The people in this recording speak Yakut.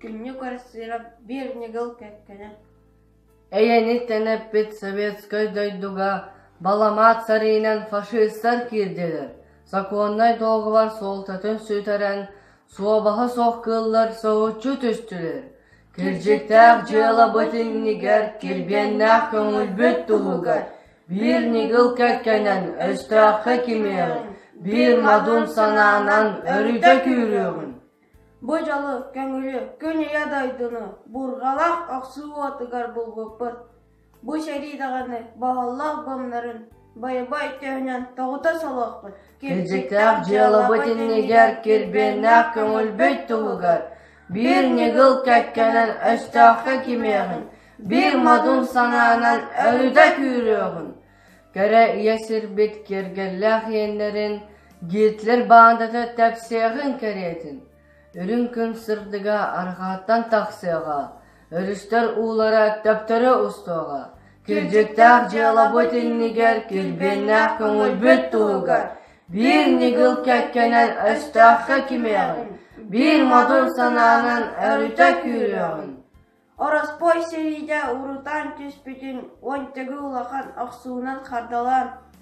Күннүк Арсенов биир ньыгыл кэккэнэ «Эйэни тэнэппит советскай дойдуга баламаат сарыынан фашистар киирдилэр, сокуоннай дуогабар суолтатын сүтэрэн, Суобаһа суох кыыллар соһуччу түстүлэр, кирдьиктээх дьыалабыт иннигэр кирбиэннээх көҥүлбүт туһугар биир ньыгыл кэккэнэн өстөөххө кимиэҕий, биир модун санаанан өрүтэ күүрүөҕүн. Бу дьолу, көҥүлү, күн ийэ дойдуну бурҕалах охсуу уотугар булбуппут Бу сэрии даҕаны баһыллаах бымнарын байбай төһөнөн тоҕута солуохпун кирдьиктээх дьыалабыт иннигэр кирбиэннээх көҥүлбүт туһугар биир ньыгыл кэккэнэн өстөөххө кимиэхин биир модун санаанан өрүтэ күүрүөҕүн кэрэ ийэ сирбит киэргэллээх иэннэрин гитлер баандата тэпсиэҕин кэриэтин үрүҥ күн сырдыга арҕааттан тахсыаҕа Өрүстэр уулара төптөрө устуоҕа, кирдьиктээх дьыалабыт иннигэр килбиэннээх көҥүлбүт туһугар биир ньыгыл кэккэнэн өстөөххө кимиэҕин, биир модун санаанан өрүтэ күүрүөҕүн. Ороспой сэриидэ урутаан түспүтүн уонтыгы улахан охсуунан хардалаан